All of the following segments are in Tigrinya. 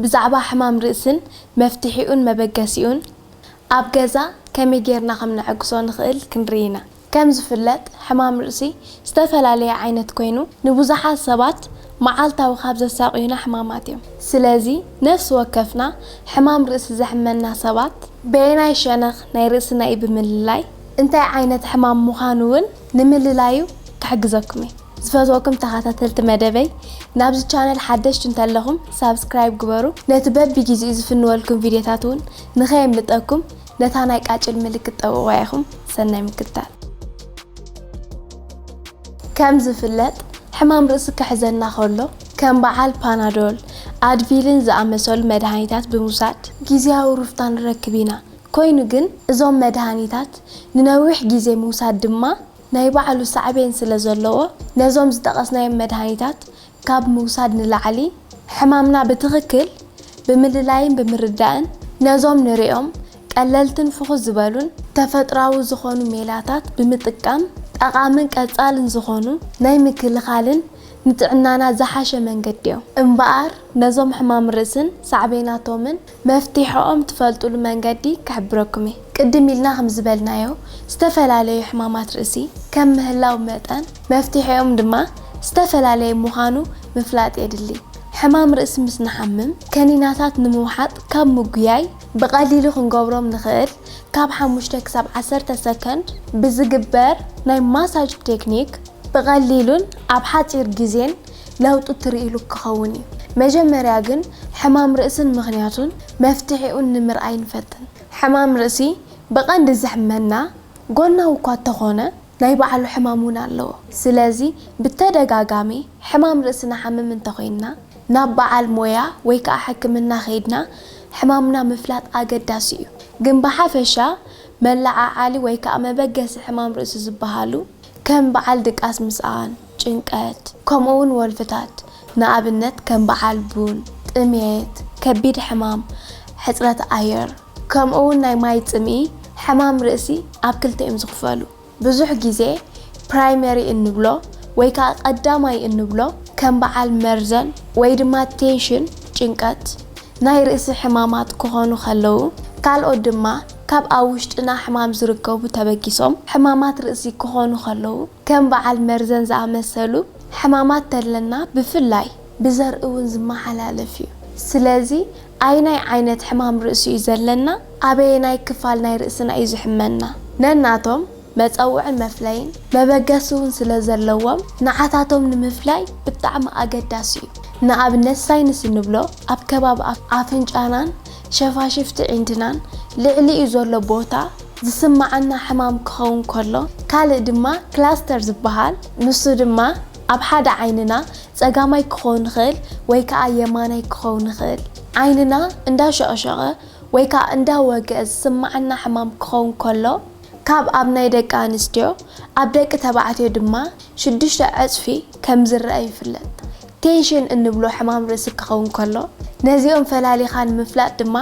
ብዛዕባ ሕማም ርእስን መፍትሒኡን መበገሲኡን ኣብ ገዛ ከመይ ጌርና ከም ነዐግሶ ንኽእል ክንርኢ ኢና። ከም ዝፍለጥ ሕማም ርእሲ ዝተፈላለየ ዓይነት ኮይኑ ንብዙሓት ሰባት መዓልታዊ ካብ ዘሳቕዩና ሕማማት እዮም። ስለዚ ነፍሲ ወከፍና ሕማም ርእሲ ዘሕመና ሰባት በየናይ ሸነኽ ናይ ርእስና እዩ ብምልላይ እንታይ ዓይነት ሕማም ምዃኑ እውን ንምልላዩ ክሕግዘኩም እዩ። ዝፈትወኩም ተኻታተልቲ መደበይ ናብዚ ቻነል ሓደሽቲ እንተለኹም ሳብስክራይብ ግበሩ ነቲ በቢ ጊዚኡ ዝፍንወልኩም ቪድዮታት ውን ንኸየምልጠኩም ነታ ናይ ቃጭል ምልክት ጠውቕዋ ኢኹም ሰናይ ምክትታል። ከም ዝፍለጥ ሕማም ርእሲ ክሕዘና ከሎ ከም በዓል ፓናዶል፣ ኣድቪልን ዝኣመሰሉ መድሃኒታት ብምውሳድ ጊዚያዊ ሩፍታ ንረክብ ኢና። ኮይኑ ግን እዞም መድሃኒታት ንነዊሕ ጊዜ ምውሳድ ድማ ናይ ባዕሉ ሳዕቤን ስለ ዘለዎ፣ ነዞም ዝጠቐስናዮም መድሃኒታት ካብ ምውሳድ ንላዕሊ፣ ሕማምና ብትኽክል ብምልላይን ብምርዳእን፣ ነዞም ንርእዮም ቀለልትን ፍኹስ ዝበሉን፣ ተፈጥራዊ ዝኾኑ ሜላታት ብምጥቃም፣ ጠቓምን ቀጻልን ዝኾኑ ናይ ምክልኻልን ንጥዕናና ዝሓሸ መንገዲዮ። እምበኣር፣ ነዞም ሕማም ርእስን ሳዕቤናቶምን መፍትሒኦም ትፈልጡሉ መንገዲ ክሕብረኩም እየ። ቅድም ኢልና ከም ዝበልናዮ ዝተፈላለዩ ሕማማት ርእሲ ከም ምህላው መጠን መፍትሒኦም ድማ ዝተፈላለየ ምዃኑ ምፍላጥ የድሊ። ሕማም ርእሲ ምስ ንሓምም ከኒናታት ንምውሓጥ ካብ ምጉያይ ብቐሊሉ ክንገብሮም ንኽእል ካብ ሓሙሽተ ክሳብ ዓሰርተ ሰከንድ ብዝግበር ናይ ማሳጅ ቴክኒክ ብቐሊሉን ኣብ ሓፂር ግዜን ለውጢ ትርእይሉ ክኸውን እዩ። መጀመርያ ግን ሕማም ርእስን ምኽንያቱን መፍትሒኡን ንምርኣይ ንፈትን። ሕማም ርእሲ ብቐንዲ ዘሕመና ጎናዊ እኳ እተኾነ ናይ ባዕሉ ሕማም እውን ኣለዎ። ስለዚ ብተደጋጋሚ ሕማም ርእሲ ንሓምም እንተኾይንና ናብ በዓል ሞያ ወይ ከዓ ሕክምና ከይድና ሕማምና ምፍላጥ ኣገዳሲ እዩ። ግን ብሓፈሻ መለዓዓሊ ወይ ከዓ መበገሲ ሕማም ርእሲ ዝበሃሉ ከም በዓል ድቃስ ምስኣን፣ ጭንቀት፣ ከምኡውን ወልፍታት፣ ንኣብነት ከም በዓል ቡን፣ ጥምየት፣ ከቢድ ሕማም፣ ሕጽረት ኣየር፣ ከምኡውን ናይ ማይ ጽምኢ፣ ሕማም ርእሲ፣ ኣብ ክልተ እዮም ዝኽፈሉ። ብዙሕ ግዜ ፕራይመሪ እንብሎ ወይ ከኣ ቀዳማይ እንብሎ ከም በዓል መርዘን ወይ ድማ ቴንሽን፣ ጭንቀት፣ ናይ ርእሲ ሕማማት ክኾኑ ከለዉ፣ ካልኦት ድማ ካብ ኣብ ውሽጥና ሕማም ዝርከቡ ተበጊሶም ሕማማት ርእሲ ክኾኑ ከለዉ፣ ከም በዓል መርዘን ዝኣመሰሉ ሕማማት ተለና ብፍላይ። ብዘርኢ እውን ዝመሓላለፍ እዩ። ስለዚ ኣይናይ ዓይነት ሕማም ርእሲ እዩ ዘለና? ኣበየናይ ክፋል ናይ ርእስና እዩ ዝሕመና? ነናቶም መጸውዕን መፍለይን መበገሲ ውን ስለ ዘለዎም ንዓታቶም ንምፍላይ ብጣዕሚ ኣገዳሲ እዩ። ንኣብነት ሳይንስ እንብሎ ኣብ ከባቢ ኣፍንጫናን ሸፋሽፍቲ ዒንድናን ልዕሊኡ ዘሎ ቦታ ዝስመዓና ሕማም ክኸውን ከሎ ካልእ ድማ ክላስተር ዝበሃል ንሱ ድማ ኣብ ሓደ ዓይንና ጸጋማይ ክኸውን ይኽእል ወይ ከኣ የማናይ ክኸውን ይኽእል ዓይንና እንዳሸቕሸቐ ወይ ከኣ እንዳወግኣ ዝስመዓና ሕማም ክኸውን ከሎ ካብ ኣብ ናይ ደቂ ኣንስትዮ ኣብ ደቂ ተባዕትዮ ድማ ሽዱሽተ ዕጽፊ ከም ዝረኣ ይፍለጥ። ቴንሽን እንብሎ ሕማም ርእሲ ክኸውን ከሎ፣ ነዚኦም ፈላሊኻ ንምፍላጥ ድማ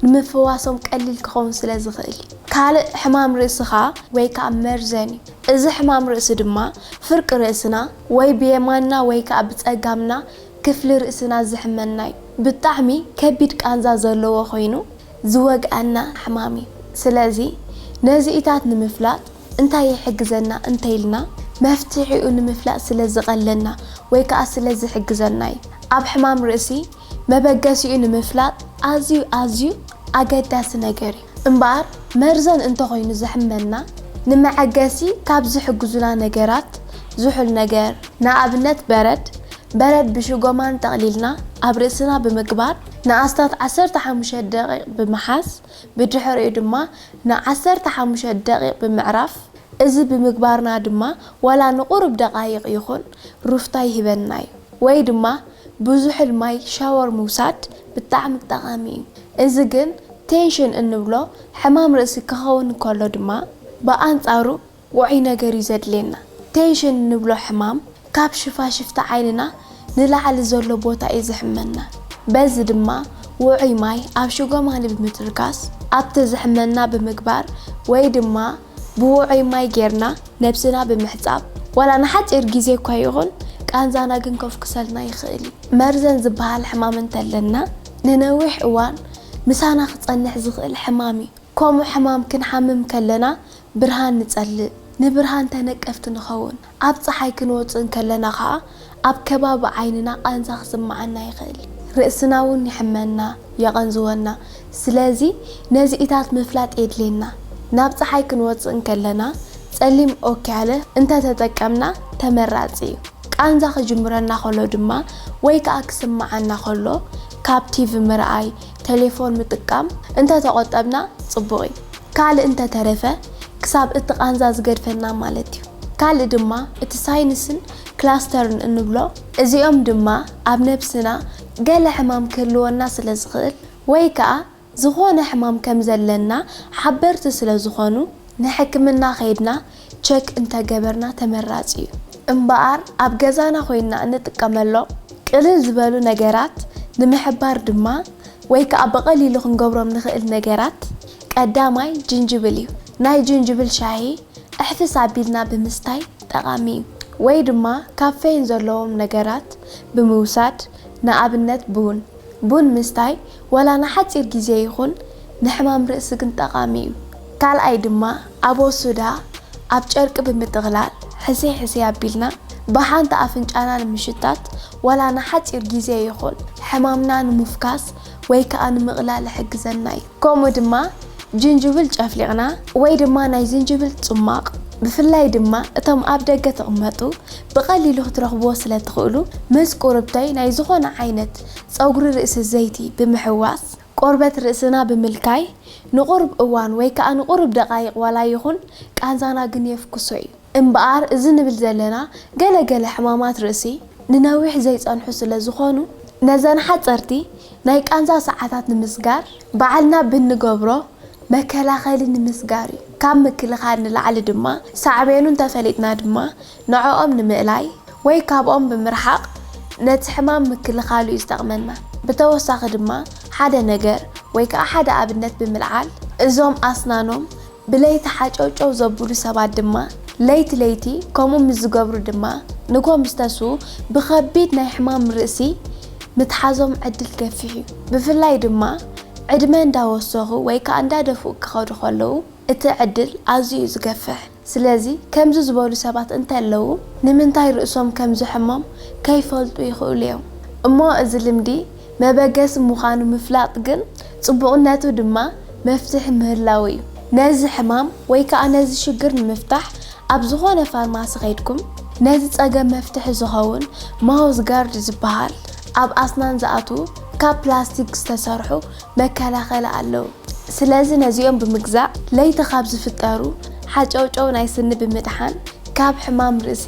ንምፍዋሶም ቀሊል ክኸውን ስለ ዝኽእል እዩ። ካልእ ሕማም ርእሲ ከኣ ወይ ከኣ መርዘን እዩ። እዚ ሕማም ርእሲ ድማ ፍርቂ ርእስና ወይ ብየማንና ወይ ከኣ ብጸጋምና ክፍሊ ርእስና ዝሕመና እዩ። ብጣዕሚ ከቢድ ቃንዛ ዘለዎ ኮይኑ፣ ዝወግኣና ሕማም እዩ። ስለዚ ነዚኢታት ንምፍላጥ እንታይ ይሕግዘና እንተይልና መፍትሒኡ ንምፍላጥ ስለ ዝቐለና ወይ ከኣ ስለ ዝሕግዘና እዩ። ኣብ ሕማም ርእሲ መበገሲኡ ንምፍላጥ ኣዝዩ ኣዝዩ ኣገዳሲ ነገር እዩ። እምበኣር መርዘን እንተኾይኑ ዘሕመና ንመዐገሲ ካብ ዝሕግዙና ነገራት ዝሑል ነገር፣ ንኣብነት በረድ፣ በረድ ብሽጎማን ጠቕሊልና ኣብ ርእስና ብምግባር፣ ንኣስታት ዓሰርተ ሓሙሽተ ደቒቕ ብምሓዝ፣ ብድሕሪኡ ድማ ንዓሰርተ ሓሙሽተ ደቒቕ ብምዕራፍ፣ እዚ ብምግባርና ድማ ዋላ ንቑሩብ ደቓይቕ ይኹን ሩፍታ ይህበና እዩ። ወይ ድማ ብዙሕል ማይ ሻወር ምውሳድ ብጣዕሚ ጠቓሚ እዩ። እዚ ግን ቴንሽን እንብሎ ሕማም ርእሲ ክኸውን እንከሎ ድማ ብኣንጻሩ፣ ውዑይ ነገር እዩ ዘድልየና። ቴንሽን እንብሎ ሕማም ካብ ሽፋሽፍቲ ዓይንና ንላዕሊ ዘሎ ቦታ እዩ ዘሕመና። በዚ ድማ ውዑይ ማይ ኣብ ሽጎማኒ ብምትርካስ ኣብቲ ዘሕመና ብምግባር ወይ ድማ ብውዑይ ማይ ጌርና ነብስና ብምሕጻብ ዋላ ንሓጺር ግዜ እኳ ይኹን ቃንዛና ክንኮፍክሰልና ይኽእል እዩ። መርዘን ዝበሃል ሕማም እንተለና ንነዊሕ እዋን ምሳና ክጸንሕ ዝኽእል ሕማም እዩ። ከምኡ ሕማም ክንሓምም ከለና ብርሃን ንጸልእ፣ ንብርሃን ተነቀፍቲ ንኸውን። ኣብ ጸሓይ ክንወጽእ እንከለና ኸኣ ኣብ ከባቢ ዓይንና ቃንዛ ክስምዓና ይኽእል። ርእስና'ውን ይሕመና፣ የቐንዝወና። ስለዚ ነዚኢታት ምፍላጥ የድልየና። ናብ ጸሓይ ክንወጽእ እንከለና ጸሊም ኦክያለ እንተ ተጠቀምና ተመራጺ እዩ። ቃንዛ ክጅምረና ከሎ ድማ ወይ ከኣ ክስምዓና ከሎ ካብ ቲቪ ምርኣይ፣ ቴሌፎን ምጥቃም እንተ ተቆጠብና ጽቡቅ እዩ ካልእ እንተ ተረፈ ክሳብ እቲ ቃንዛ ዝገድፈና ማለት እዩ ካልእ ድማ እቲ ሳይንስን ክላስተርን እንብሎ እዚኦም ድማ ኣብ ነብስና ገለ ሕማም ክህልወና ስለ ዝክእል ወይ ከኣ ዝኮነ ሕማም ከም ዘለና ሓበርቲ ስለ ዝኮኑ ንሕክምና ከይድና ቸክ እንተገበርና ተመራፂ ዩ። እምበኣር ኣብ ገዛና ኮይንና እንጥቀመሎም ቅልል ዝበሉ ነገራት ንምሕባር ድማ ወይ ከዓ ብቐሊሉ ክንገብሮም ንኽእል ነገራት ቀዳማይ ጅንጅብል ዩ። ናይ ጅንጅብል ሻሂ ዕሕፍስ ኣቢልና ብምስታይ ጠቓሚ ዩ። ወይ ድማ ካፌይን ዘለዎም ነገራት ብምውሳድ ንኣብነት ቡን፣ ቡን ምስታይ ዋላ ንሓጺር ግዜ ይኹን ንሕማም ርእሲ ግን ጠቓሚ እዩ። ካልኣይ ድማ ኣቦ ሱዳ ኣብ ጨርቂ ብምጥቕላል ሕስይ ሕስይ ኣቢልና ብሓንቲ ኣፍንጫና ንምሽታት ዋላ ንሓጺር ግዜ ይኹን ሕማምና ንምፍካስ ወይ ከኣ ንምቕላል ይሕግዘና እዩ። ከምኡ ድማ ጅንጅብል ጨፍሊቕና ወይ ድማ ናይ ዝንጅብል ጽሟቕ ብፍላይ ድማ እቶም ኣብ ደገ ትቕመጡ ብቐሊሉ ክትረኽብዎ ስለ ትኽእሉ ምስ ቁርብተይ ናይ ዝኾነ ዓይነት ጸጉሪ ርእሲ ዘይቲ ብምሕዋስ ቆርበት ርእስና ብምልካይ ንቑሩብ እዋን ወይ ከኣ ንቑሩብ ደቓይቕ ዋላ ይኹን ቃንዛና ግን የፍኩሶ እዩ። እምበኣር እዚ ንብል ዘለና ገለ ገለ ሕማማት ርእሲ ንነዊሕ ዘይጸንሑ ስለ ዝኾኑ፣ ነዘን ሓጸርቲ ናይ ቃንዛ ሰዓታት ንምስጋር ባዕልና ብእንገብሮ መከላኸሊ ንምስጋር እዩ። ካብ ምክልኻል ንላዕሊ ድማ ሳዕቤኑ እንተፈሊጥና ድማ ንዕኦም ንምእላይ ወይ ካብኦም ብምርሓቕ ነቲ ሕማም ምክልኻሉ እዩ ዝጠቕመና። ብተወሳኺ ድማ ሓደ ነገር ወይ ከኣ ሓደ ኣብነት ብምልዓል እዞም ኣስናኖም ብለይቲ ሓጨውጨው ዘብሉ ሰባት ድማ ለይቲ ለይቲ ከምኡ ምስ ዝገብሩ ድማ ንጎምስተሱ ብኸቢድ ናይ ሕማም ርእሲ ምትሓዞም ዕድል ገፊሕ እዩ። ብፍላይ ድማ ዕድመ እንዳወሰኹ ወይ ከኣ እንዳደፍኡ ክኸዱ ከለዉ እቲ ዕድል ኣዝዩ እዩ ዝገፍሕ። ስለዚ ከምዚ ዝበሉ ሰባት እንተለዉ ንምንታይ ርእሶም ከም ዝሕሞም ከይፈልጡ ይኽእሉ እዮም። እሞ እዚ ልምዲ መበገሲ ምዃኑ ምፍላጥ ግን ጽቡቕነቱ ድማ መፍትሒ ምህላዉ እዩ። ነዚ ሕማም ወይ ከኣ ነዚ ሽግር ንምፍታሕ ኣብ ዝኾነ ፋርማሲ ከይድኩም ነዚ ጸገም መፍትሒ ዝኸውን ማውዝ ጋርድ ዝበሃል ኣብ ኣስናን ዝኣትዉ ካብ ፕላስቲክ ዝተሰርሑ መከላኸሊ ኣለዉ። ስለዚ ነዚኦም ብምግዛእ ለይቲ ካብ ዝፍጠሩ ሓጨውጨው ናይ ስኒ ብምድሓን ካብ ሕማም ርእሲ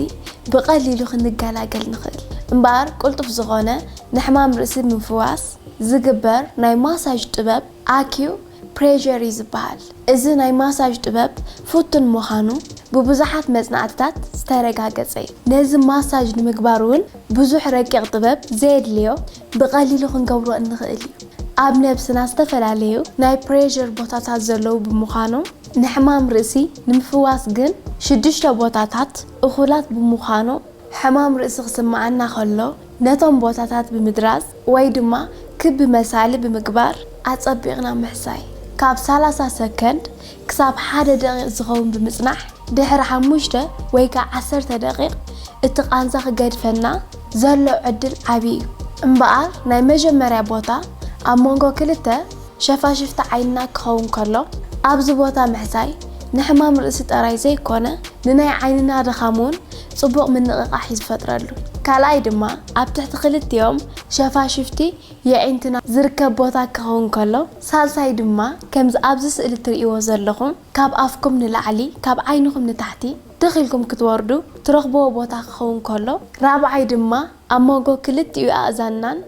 ብቐሊሉ ክንገላገል ንኽእል። እምበኣር ቅልጡፍ ዝኾነ ንሕማም ርእሲ ምፍዋስ ዝግበር ናይ ማሳጅ ጥበብ ኣኪዩ ፕሬዠር እዩ ዝበሃል። እዚ ናይ ማሳጅ ጥበብ ፍቱን ምዃኑ ብብዙሓት መጽናዕትታት ዝተረጋገጸ እዩ። ነዚ ማሳጅ ንምግባር እውን ብዙሕ ረቂቕ ጥበብ ዘየድልዮ ብቐሊሉ ክንገብሮ እንኽእል እዩ። ኣብ ነብስና ዝተፈላለዩ ናይ ፕሬዠር ቦታታት ዘለዉ ብምዃኖም፣ ንሕማም ርእሲ ንምፍዋስ ግን ሽዱሽተ ቦታታት እኹላት ብምዃኖም ሕማም ርእሲ ክስምዓና ከሎ፣ ነቶም ቦታታት ብምድራዝ ወይ ድማ ክቢ መሳሊ ብምግባር ኣጸቢቕና ምሕሳይ። ካብ ሰላሳ ሰከንድ ክሳብ ሓደ ደቒቕ ዝኸውን ብምጽናሕ ድሕሪ ሓሙሽተ ወይ ከኣ ዓሰርተ ደቒቕ እቲ ቃንዛ ክገድፈና ዘሎ ዕድል ዓቢ እዩ። እምበኣር ናይ መጀመርያ ቦታ ኣብ መንጎ ክልተ። ሸፋሽፍቲ ዓይንና ክኸውን ከሎ፣ ኣብዚ ቦታ ምሕሳይ ንሕማም ርእሲ ጠራይ ዘይኮነ ንናይ ዓይንና ድኻም እውን ጽቡቕ ምንቕቓሕ እዩ ዝፈጥረሉ። ካልኣይ ድማ ኣብ ትሕቲ ክልቲኦም ሸፋሽፍቲ የዒንትና ዝርከብ ቦታ ክኸውን ከሎ፣ ሳልሳይ ድማ ከምዚ ኣብዚ ስእሊ እትርእይዎ ዘለኹም ካብ ኣፍኩም ንላዕሊ ካብ ዓይንኹም ንታሕቲ ትኽ ኢልኩም ክትወርዱ ትረኽብዎ ቦታ ክኸውን ከሎ፣ ራብዓይ ድማ ኣብ ሞጎ ክልቲኡ ኣእዛንናን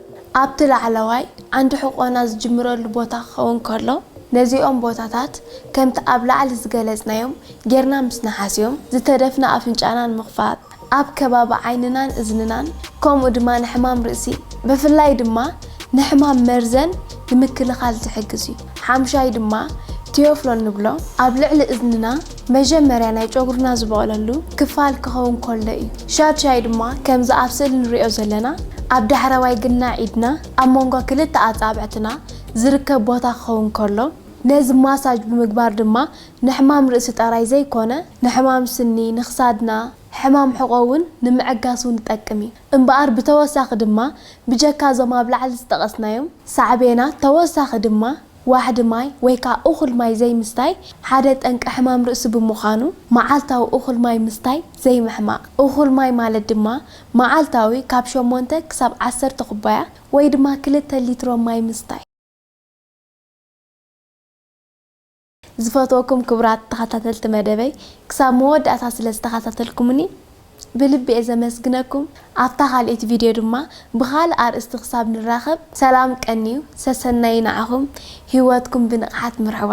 ኣብቲ ላዕለዋይ ዓንዲ ሕቖና ዝጅምረሉ ቦታ ክኸውን ከሎ፣ ነዚኦም ቦታታት ከምቲ ኣብ ላዕሊ ዝገለጽናዮም ጌርና ምስ ንሓስዮም፣ ዝተደፍነ ኣፍንጫና ንምኽፋት፣ ኣብ ከባቢ ዓይንናን እዝንናን ከምኡ ድማ ንሕማም ርእሲ ብፍላይ ድማ ንሕማም መርዘን ንምክልኻል ዝሕግዝ እዩ። ሓምሻይ ድማ ቲዮፍሎን ንብሎ ኣብ ልዕሊ እዝንና መጀመርያ ናይ ጨጉርና ዝበቕለሉ ክፋል ክኸውን ከሎ እዩ። ሻድሻይ ድማ ከምዚ ኣብ ስእሊ ንሪኦ ዘለና ኣብ ዳሕረዋይ ግናዕ ኢድና ኣብ መንጎ ክልተ ኣጻብዕትና ዝርከብ ቦታ ክኸውን ከሎ ነዚ ማሳጅ ብምግባር ድማ ንሕማም ርእሲ ጠራይ ዘይኮነ ንሕማም ስኒ፣ ንክሳድና፣ ሕማም ሕቖ ውን ንምዕጋስ ውን ዝጠቅም እዩ። እምበኣር ብተወሳኺ ድማ ብጀካ እዞም ኣብ ላዕሊ ዝጠቐስናዮም ሳዕቤናት ተወሳኺ ድማ ዋሕዲ ማይ ወይ ከኣ እኹል ማይ ዘይምስታይ ሓደ ጠንቂ ሕማም ርእሲ ብምዃኑ መዓልታዊ እኹል ማይ ምስታይ ዘይምሕማቕ። እኹል ማይ ማለት ድማ መዓልታዊ ካብ ሸሞንተ ክሳብ ዓሰርተ ኩባያ ወይ ድማ ክልተ ሊትሮ ማይ ምስታይ። ዝፈትወኩም ክቡራት ተኸታተልቲ መደበይ ክሳብ መወዳእታ ስለ ዝተኸታተልኩምኒ ብልቢ እየ ዘመስግነኩም ኣብታ ካልኤት ቪድዮ ድማ ብካልእ ኣርእስቲ ክሳብ ንራከብ ሰላም ቀንዩ ሰሰናዩ ንዓኩም ሂወትኩም ብንቅሓት ምርሕዋ።